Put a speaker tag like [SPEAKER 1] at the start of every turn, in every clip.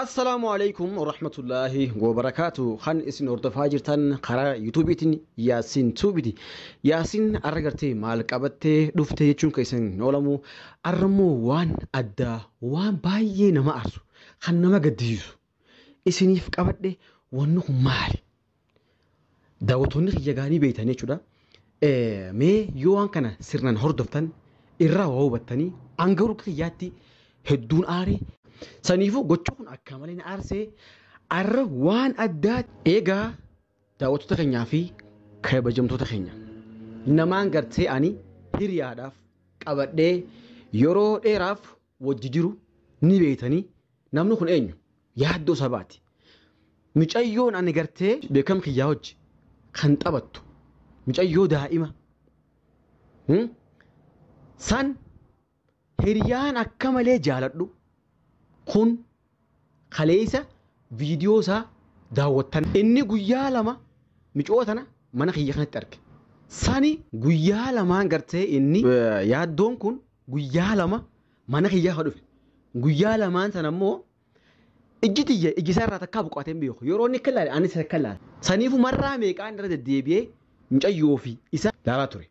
[SPEAKER 1] Assalaamu
[SPEAKER 2] alaikum warahmatullaahi wabarakaatu kan isin hordofaa jirtan karaa yuutuubiitiin Yaasiin Tuubiti. Yaasiin arra gartee maal qabattee dhufte jechuun keessan hin oolamu. Arra immoo waan addaa waan baay'ee nama aarsu kan nama gaddisiisu isiniif qabadhe wanni kun maali? Daawwattoonni kiyya egaa ni beektan jechuudha. Mee yoo waan kana sirnaan hordoftan irraa waa hubattanii hanga urga kiyyaatti hedduun aare. Saniifuu gocha kun akka malee na aarsee arra waan addaa eegaa daawwattoota keenyaa fi kabajamtoota keenya. Namaan gartee ani hiriyaadhaaf qabadhee yeroo dheeraaf wajji jiru ni beeytanii namni kun eenyu yaaddoo sabaati micayyoon ani gartee beekam kiyyaa wajji kan taphattu micayyoo daa'ima hmm? san hiriyaan akka malee jaaladhu kun kaleessa viidiyoo isaa daawwattan. Inni guyyaa lama micoo tana mana kiyya kanatti arge. Sani guyyaa lamaan gartee inni yaaddoon kun guyyaa lama mana kiyya ka dhufe. Guyyaa lamaan sana immoo ijji tiyya ijji isaa irraa takkaa buqqaatee hin beeku. Yeroo inni akka ilaale ani isa akka ilaale. Saniifu marraa meeqaan irra deddeebi'ee mucayyoo fi isa laalaa ture.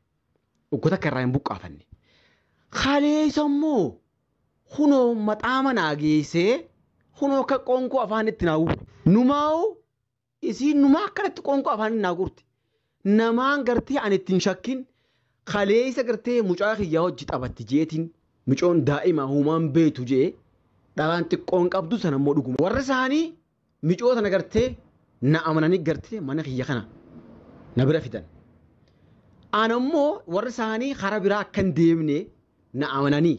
[SPEAKER 2] Uggota akka irraa hin buqqaafanne. Kaleessa immoo Kunoo maxaama naa geessee, kunoo akka qoonqoo afaanitti naa guure. Numaa'uu isiin numaa akkanatti qoonqoo afaanitti naa guurti. Namaan gartee ani itti hin shakkin kaleessa gartee mucaa kiyyaa hojji taphatti jeetiin micoon daa'ima humaan beetu jee dhalaan xiqqoon qabdu sanammoo dhuguma. Warri isaanii Micoo tana gartee na amananii gartee mana kiyya kana na bira fidan. Ana immoo warri isaanii karaa biraa akka hin deemne na amananii.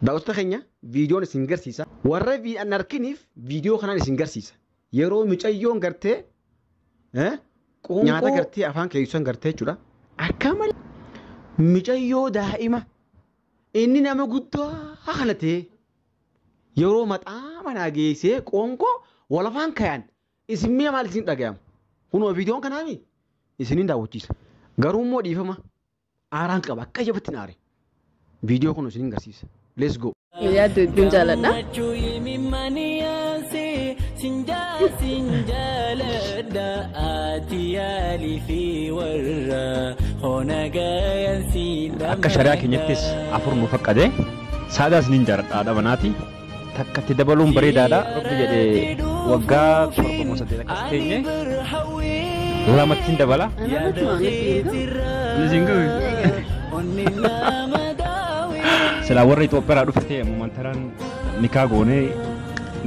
[SPEAKER 2] Daawwattoota keenya viidiyoon isin garsiisa. Warra viidiyoo hin arkiniif viidiyoo kanaan isin garsiisa. Yeroo micayyoon gartee eh, Qoonqoo- nyaata gartee afaan keessan gartee jechuudha. Akka malee micayyoo daa'ima inni nama guddaa kana ta'e Yeroo maxaa manaa geessee qoonqoo walafaan kayan isin miya maal isin dhagayama? Kunoo viidiyoon kanaa mi? Isinin daawwachiisa. Garuu immoo dhiifama aaraan qaba akka jabatti naare. Viidiyoo kun isinin garsiisa. Let's go. Yaaddu hedduun
[SPEAKER 3] jaaladha. Gammachuu imimmaan yaansi sinjaa sinjaaladha ati
[SPEAKER 4] yaalii fi warra hona gayan siin Akka shari'aa keenyattis afur nu fakkade. Saadaa isinin jaaladha haadha manaati. Takka itti dabaluun bareedaadha. Rabbi jedhee waggaa torba moo saddeet akkas teenye lamattiin dabala. Isin gahu. Silaa warra Itoophiyaadhaa dhufte ammumaan taraan nikaa goonee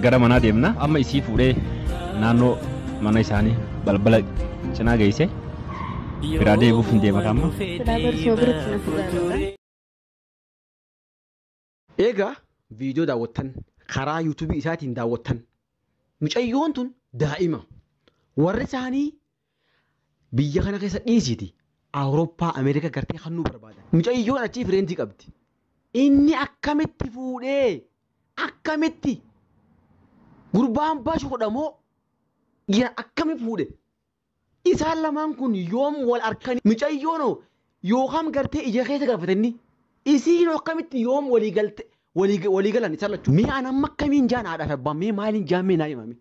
[SPEAKER 4] gara manaa deemna. Amma isii fuudhee naannoo mana isaanii balbala cinaa geesse biraa deebi'uuf hin deema amma. Silaa barsoo biratti na fuudhaa.
[SPEAKER 2] Eegaa viidiyoo daawwattan karaa yuutuubii isaatiin daawwattan mucayyoon tun daa'ima warri isaanii biyya kana keessa dhiisiiti Awurooppaa Ameerikaa gartee kan nu barbaadan mucayyoon achii fireentii qabdi inni akkamitti fuudhee akkamitti gurbaan bashuudha moo dhiira akkami fuudhe Isaan lamaan kun yoom wal arkani micayyoono yookam gartee ija keessa galfate inni isiino akkamitti yoom walii galte walii walii galan isaan lachuu mee an amma akkamiin jaan haadhaa fi abbaan mee maaliin jaan mee naa himame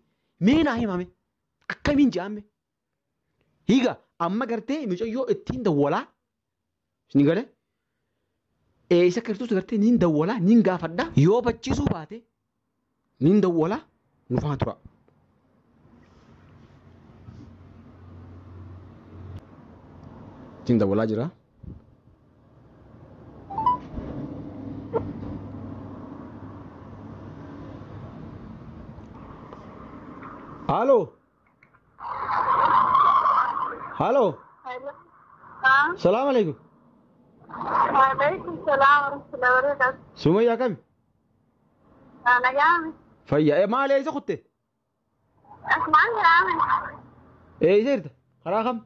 [SPEAKER 2] mee naa himame akkamiin jaan mee higa amma gartee micayyoo ittiin dawwalaa Isin gale? Ee isa Kiristoos gartee niin dawwalaa niin gaafadha yoo bachiisuu baate niin dawwalaa nu faana turaa. Isin dawwalaa jira. Haaloo! Haaloo. Salaamu alaikum. Waalaikum
[SPEAKER 5] salaam warahmatullahi wabarakatuh. Sumayya akkami?
[SPEAKER 2] Nagaami.
[SPEAKER 5] Fayya. Eh, maali eessa
[SPEAKER 2] kutte?
[SPEAKER 5] Asmaan jiraame.
[SPEAKER 2] Eessa jirta? Karaa kam?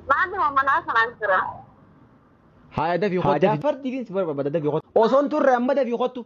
[SPEAKER 2] Maalli
[SPEAKER 5] mammanaa sanaan jira.
[SPEAKER 2] Haaya dafii kottu. Haajaa fardiitiin si barbaada dafii kottu. Osoon turre amma dafii kottu.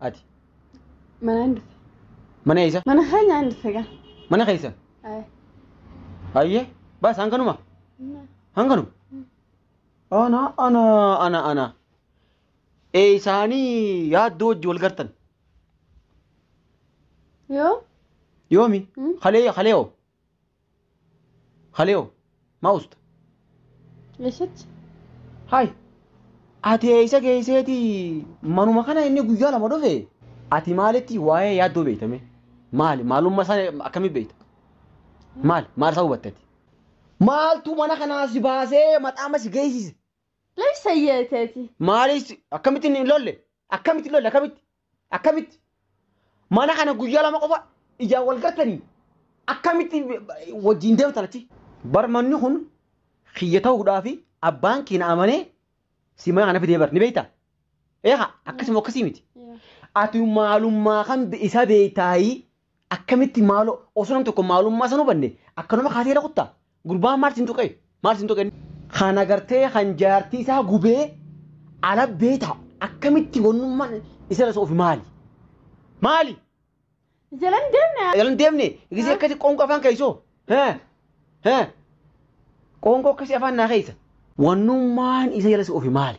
[SPEAKER 2] Ati. Mana
[SPEAKER 3] hin dhufe. Mana eessa? Mana
[SPEAKER 2] keenya hin dhufe
[SPEAKER 3] gaa. Mana keessa. Ayi.
[SPEAKER 2] Ayyee. Baas hanganuma. Hanganuma. Ana ana ana ana. Ee isaanii yaaddoo wajji wal gartan.
[SPEAKER 3] Yoo. Yoomi?
[SPEAKER 2] Hmm. Kalee kalee hoo? Haleo, ma usta?
[SPEAKER 3] Eessatti?
[SPEAKER 2] Hay! Ati eessa geesseeti manuma kana inni guyyaa lama dhufe? Ati maalitti waa'ee yaaddoo beekta mee? Maali? Maalummaa isaa akkamii beekta? Maal? Maal isaa hubatte ati? Maaltu mana kanaa si baasee maxaama si geessise? Lay sayyee
[SPEAKER 3] teeti. Maalis
[SPEAKER 2] akkamitti hin lolle? Akkamitti hin lolle? Akkamitti? Akkamitti? Mana kana guyyaa lama qofa ijaan wal gartanii akkamitti wajjin deemtan achi? Bar manni kun kiyya ta'uudhaa fi abbaan kee na amanee si mana kana fidee bar ni beektaa? Eegaa akkasuma akkasii miti. Ati maalummaa kan isaa beektaayii Akkamitti maaloo osoo nam tokko maalummaa san hubanne akkanuma kaatee rakutta gurbaan maal sin tuqee maal sin tuqee. Kan agartee kan jaartii isaa gubee ala beeta akkamitti wannummaan isarra isa ofi maali maali. Jalan deemne. Jalan deemne gisee akkasi qoonqoo afaan keessoo qoonqoo akkasi afaan naa keessa. Wannummaan isa jala isa ofi maali.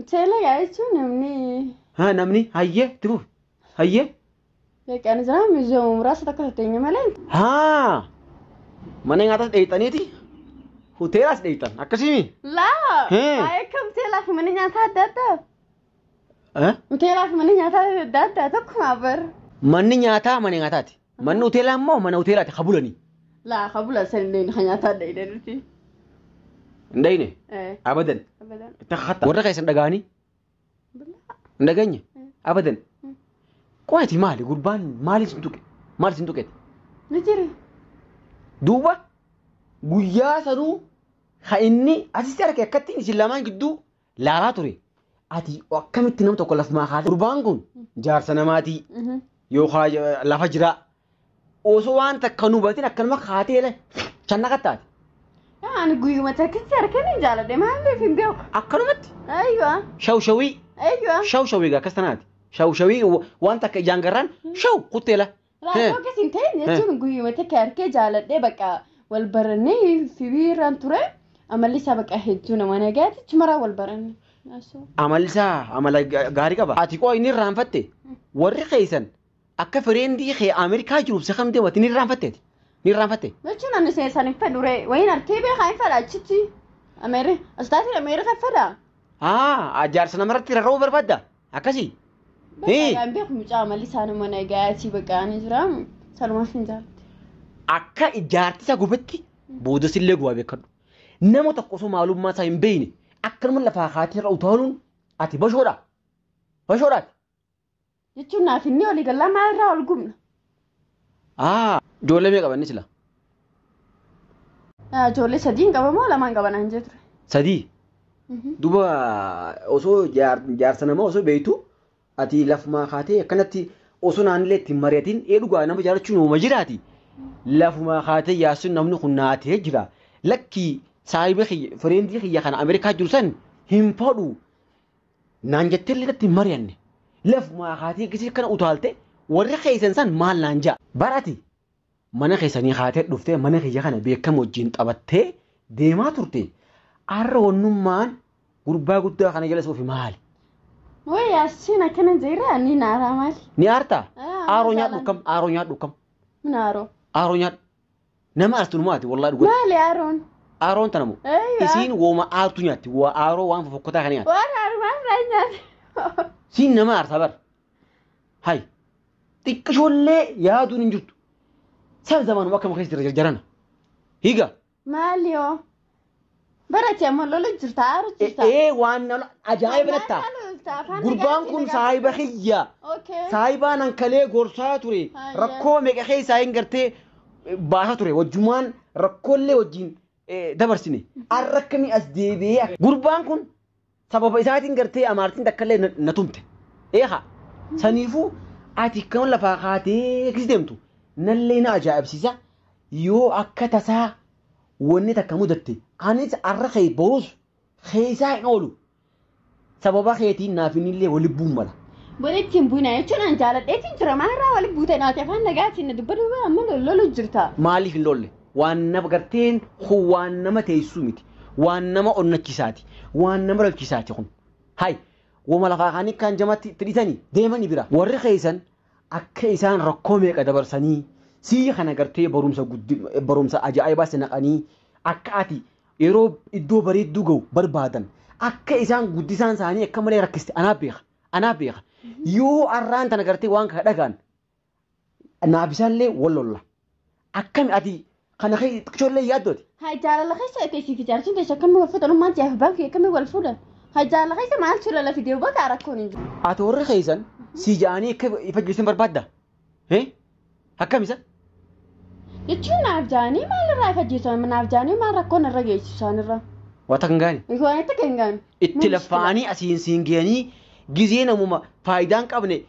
[SPEAKER 3] Uteela gaa jechuun namni Ha namni hayyee itti fufi.
[SPEAKER 2] Hayyee. beekaan
[SPEAKER 3] jira miizooma muraasa takka tatteenya malee Ha
[SPEAKER 2] mana nyaatas dheeyxaniiti hoteelaas dheeyxan akkasimi. laa Hee.
[SPEAKER 3] haa akka uteelaa fi mana nyaataa adda addaa Eh? uteelaa fi mana nyaataa adda addaa tokkumaa bar Manni nyaataa
[SPEAKER 2] mana nyaataati. Manni hoteelaa immoo mana hoteelaati ka bulanii. Laa ka bulan
[SPEAKER 3] san hin dhayne ka nyaataa hin dhayne nuti.
[SPEAKER 2] Hin dhayne. Abadan. Abadan. Itti kakkatta. Warra keessan dhaga'anii. Hin dhageenye. Abadan. Qoyati maali gurbaan maali sin tuqe maali sin tuqeeti. Ni jiri. Duuba guyyaa sanuu ka inni asitti arge akkatti isin lamaan gidduu laalaa ture ati akkamitti nama tokko lafumaa kaatee gurbaan kun jaarsa namaatii Mhm. yookaan eh, lafa jiraa osoo waan takka nu batin akkanuma kaatee le channa qattaate Yaa, ani
[SPEAKER 3] guyyuma takkitti harkeen hin jaaladhe maaliif hin beeku akkanumatti ayyuwa shawshawii
[SPEAKER 2] ayyuwa shawshawii
[SPEAKER 3] gaa akkas tanaati
[SPEAKER 2] shawshawii wa- waan takka ijaan garraan shaw kutteela Raadiyoo akkas
[SPEAKER 3] hin ta'in jechuun guyyuma takka harkee jaaladhee bakka wal barannee fibii irraan ture amalli isaa bakka hedduu nama nagaati chumaraa wal baranne. Asoo. Amalli
[SPEAKER 2] isaa amala ga- gaarii qaba. Ati qoo inni irraanfatte warri keessan akka fireendii kee Ameerikaa jiruuf isa kam deemati ni irraanfatte ati. Ni irraanfatte. Jechuun
[SPEAKER 3] ani seesan hin fedhu ree wayiin harkee beekaa hin fedha achitti. Ameeri asxaatiin Ameerika fedha. Haa
[SPEAKER 2] jaarsa namarratti rarra'uu barbaadda. Akkasi? Hii. Bakka
[SPEAKER 3] beeku mucaa malli isaanii mana egaa achii baqaanii jira. Salumaa sin jaalte. Akka
[SPEAKER 2] ijaarti isaa gubetti boodas illee gubaa beekadhu. Nama tokko osoo maalummaa isaa hin beekne akkanuma lafaa kaatee irra utaaluun ati bashoodha. Bashoodhaati.
[SPEAKER 3] Jechuun naaf inni olii gallaa maal irraa ol gubna. Aa
[SPEAKER 2] ijoollee mee qabanni sila. Ah,
[SPEAKER 3] Ijoollee sadiin qaba moo lamaan qaba naan jee ture. Sadii. Mhm.
[SPEAKER 2] Duba osoo
[SPEAKER 3] jaar-
[SPEAKER 2] jaarsa namaa osoo beektu ati lafumaa kaatee akkanatti osoo naannilee ittiin mari'atiin ee dhugaa nama jaalachuun uuma jiraati. Lafumaa kaatee yaasuun namni kun naatee jira. Lakkii saahiba kiyya fireendii kiyya kana Ameerikaa jiru san hin fadhu. Naan jettee illee irratti hin mari'anne. Lafumaa kaatee gisee akkana utaalte warri keessan san maal naan ja'a. Bar ati mana keessanii kaatee dhuftee mana kiyya kana beekama wajjin taphattee deemaa turte. Arra wannummaan gurbaa guddaa kana jala suufi maali? Way
[SPEAKER 3] Yaasiin akkana jeera ni naaraa maali? Ni aartaa? Ah,
[SPEAKER 2] Aaroo nyaadhu masalan. kam? Aaroo nyaadhu kam? Min aaroo.
[SPEAKER 3] Aaroo nyaadhu.
[SPEAKER 2] Nama artu numa ati wallahi dhugaa. Maali Aaroon?
[SPEAKER 3] Aaroon tana moo?
[SPEAKER 2] Eeyyaa. Isiin wooma aartu nyaatti. Waa aaroo waan fofokkotaa kana nyaatti. Waan armaan irraa nyaate.
[SPEAKER 3] Siin nama aarta
[SPEAKER 2] bar. Hay. Xiqqishoollee yaaduun hin jirtu. San zamaanuma akkam keessa jira jarjarana. Higa. Maali hoo?
[SPEAKER 3] Barate amma lola jirta aaru jirta. Ee waan na
[SPEAKER 2] ajaa'iba natta. Gurbaan kun saahiba kiyya. Okay. Saahibaa nan kalee gorsaa ture. Hayyee. Rakkoo meeqa keessaa hin gartee eh, baasaa ture. Wajjumaan rakkoollee wajjin eh, dabarsine. Arra akkamii as deebi'ee. Gurbaan kun Sababa isaatiin gartee amaartiin takkallee na- na tumte. Eeha. Saniifuu ati kan lafaa kaatee akkasi deemtu nallee na ajaa'ibsiisa. Yoo akka tasaa wanni takka mudatte anis arra kee boruus keessaa hin oolu. Sababa keetiin naaf innillee wal lubbuun mala. Walitti hin bu'ina
[SPEAKER 3] jechuun an jaaladheetiin jira. Maal irraa walitti buute naati afaan nagaatiin na dubbaduu amma lollu jirta. Maaliif hin loolle?
[SPEAKER 2] Waan nama garteen kun waan nama teessuu miti. Waan nama onnachisaati. Waan nama rakkisaati kun. Hay woma lafaa kaanii kaan jamatti itti dhitanii deemani bira. Warri keessan akka isaan rakkoo meeqa dabarsanii sii kana gartee barumsa guddi barumsa ajaa'ibaa si naqanii akka ati yeroo iddoo bareedduu ga'u barbaadan akka isaan guddisaan isaanii akka malee rakkiste anaa beeka anaa beeka yoo arraan tana gartee waan kana dhagaan naaf isaallee wal lolla. Akkami ati kana kee xiqqishoollee yaaddooti. Haa jaalala keessa
[SPEAKER 3] akka isiif ijaarsuun teessu akkamii wal fuudhan ummaan siyaaf abbaan kiyya akkamii wal fuudhan. Haa jaalala keessa maaltu lola fidee bakka rakkoon hin jiru. Ati warri keessan
[SPEAKER 2] si ja'anii akka ifajjeessan barbaadda. Eh? Akkami isa?
[SPEAKER 3] Jechuun naaf jaanii maalirraa ifajjeessu naaf jaanii maal rakkoon irra geessisu isaanirraa. Wata kan gaani.
[SPEAKER 2] Waan itti kan gaani.
[SPEAKER 3] Itti laffa'anii
[SPEAKER 2] asiin siin ga'anii gizee namuma faayidaan qabne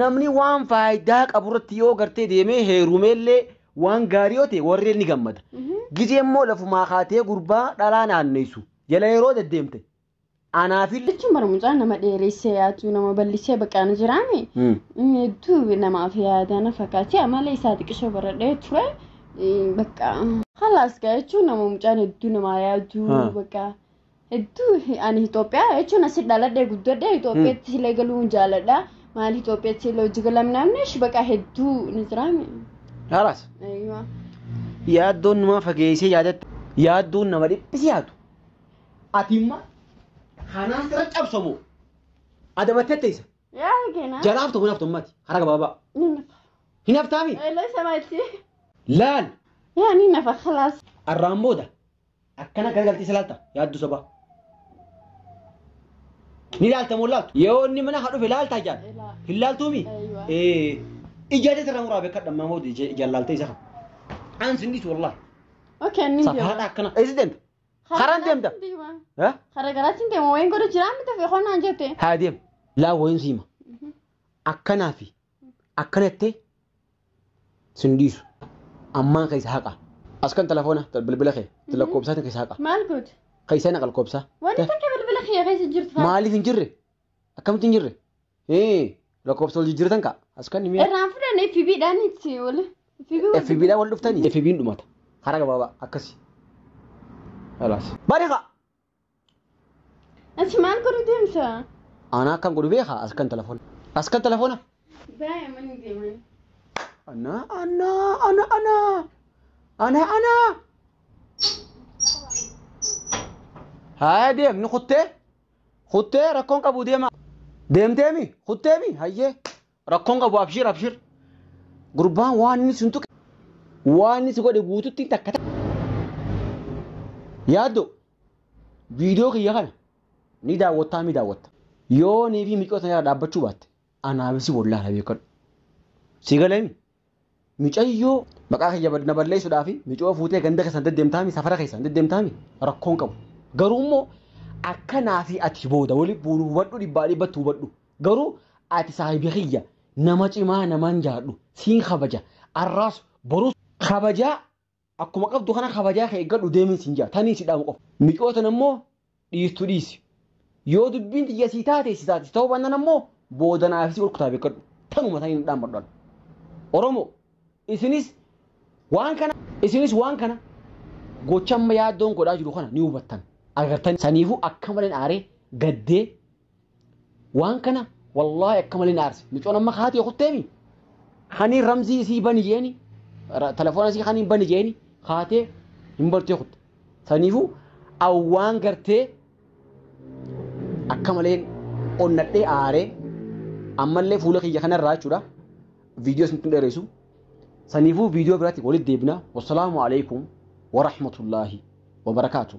[SPEAKER 2] Namni waan faayidaa qabu irratti yoo gartee deemee heerumeellee waan gaarii yoo ta'e warreen ni gammada. Gizee immoo lafumaa kaatee gurbaa dhalaa naanneessu jala yeroo deddeemte anaafillee Jechuun bara mucaa nama
[SPEAKER 3] dheeressee yaatu nama ballisee baqaana jiraame Mm. inni hedduu namaaf yaadana fakkaatee amala isaa xiqqisoo baradhee ture eh, bakka halaas gaa jechuun nama mucaan hedduu namaa yaadu Ha. bakka Hedduu ani Itoophiyaa jechuun asi dhaladhee guddadhee Itoophiyaatti silee galuu hin jaaladha. Maali Itoophiyaatti silee hojii galam namni shi baqaa hedduu ni jiraame. Haalaas.
[SPEAKER 2] Eeyyuma. Yaaddoon namaa fageessee yaadatte yaaddoon nama dhiphisi yaadu. Ati immoo kanaa sira cabsamu adabattee teessa. Yaa keena.
[SPEAKER 3] Jalaaf tokko naaf tummati
[SPEAKER 2] hara gabaabaa. Ni nafa. Hin haftaami? Eeloo isa maatti.
[SPEAKER 3] Laal
[SPEAKER 2] Yaa ni
[SPEAKER 3] nafa khalaas. arraan booda
[SPEAKER 2] Akkana garagaltee salaalta yaaddu sobaa. Ni laalta moo laaltu? Yoo inni mana haa dhufe laalta ijaan. Ilaa. Hin laaltuumi? Eeyyuwa. Ee. Ijaa jecha irraa muraa beekadha ammaa hoo ijaan laaltee isa. Aan sin dhiisu wallaahi. Okay, ni
[SPEAKER 3] Safaadha deema. akkana. Eessi deemta?
[SPEAKER 2] Karaan deemta? Karaan deema. Eh? Karaa
[SPEAKER 3] garaatiin deema. Wayin godhu jiraa miti fi qonnaan jette. Haa deemu. Laa
[SPEAKER 2] wayin siima. Akkanaa fi Akkana jettee sin dhiisu. Ammaan keessa haqa. As kan telefoona bilbila kee lakkoobsaatiin keessa haqa. Maal goote? Keessa
[SPEAKER 3] naqa lakkoobsaa.
[SPEAKER 2] Wanti takka bilbila
[SPEAKER 3] kiyya keessa jirtu fa'a. Maaliif hin jirre?
[SPEAKER 2] Akkamitti hin jirre? Hee lakkoobsa wal jijjiiratan ka'a. As kan mi'a. Irraan fudhanne FB dhaan
[SPEAKER 3] itti wal. FB wal. FB dhaan wal
[SPEAKER 2] dhuftanii? FB hin dhumata. Karaa gabaabaa akkasi. Halaas. Bariqa!
[SPEAKER 3] Ati maal godhu deemta? Aanaa akkan godhu
[SPEAKER 2] beekaa as kan telefoona. As kan telefoona. Baay'ee
[SPEAKER 3] manni deeman. Ana
[SPEAKER 2] ana ana ana ana ana. Haa deem ni kuttee kuttee rakkoon qabu deema. Deemteemi kutteemi hayyee Rakkoon qabu abshir abshir. Gurbaan waan inni sun tuqe waan inni si godhe guututti takka takka. Yaaddo viidiyoo kiyya kana ni daawwattaa mi daawwatta. Yoo nii fi micoota irraa dhaabbachuu baatte anaaf si bollaana beekadhu. Si galami Micayyoo maqaa kiyya na balleessuudhaafi micoo fuutee ganda keessan deddeemtaami safara keessan deddeemtaami rakkoon qabu. Garuu immoo akka naa fi ati booda wali buunu hubadhu dhibbaa dhibbatti hubadhu. Garuu ati saahibi kiyya nama cimaa naman jaadhu siin kabaja arraas boruus kabajaa Akkuma qabdu kana kabajaa kee eeggadhu deemiin siin jaa tanii si dhaamu qofa. Micoo tana immoo dhiistu dhiisi. Yoo dubbiin tiyya sii taate si taati ta'uu baannan ammoo booda naaf si olkutaa beekkadhu. Tanuma tanii na dhaammadhu an. Oromoo isinis waan kana isinis waan kana gocha amma yaaddoon godhaa jiru kana ni hubattan agartan saniifuu akka maleen aaree gaddee Waan kana wallaahi akka malee na aarse. Micoon amma haati yoo kutteemi. Kanii ramzii isii bani jeeni. Telefoona isii kanii bani jeeni. Haatee hin bartee kutte. Saniifuu awwaan gartee akka maleen onnadhee aaree ammallee fuula kiyya kanarraa jechuudha. Viidiyoo isin tun dheeressu. Saniifuu viidiyoo biraatti walitti deebina. Wassalaamu alaikum wa rahmatullaahi wa barakaatuh.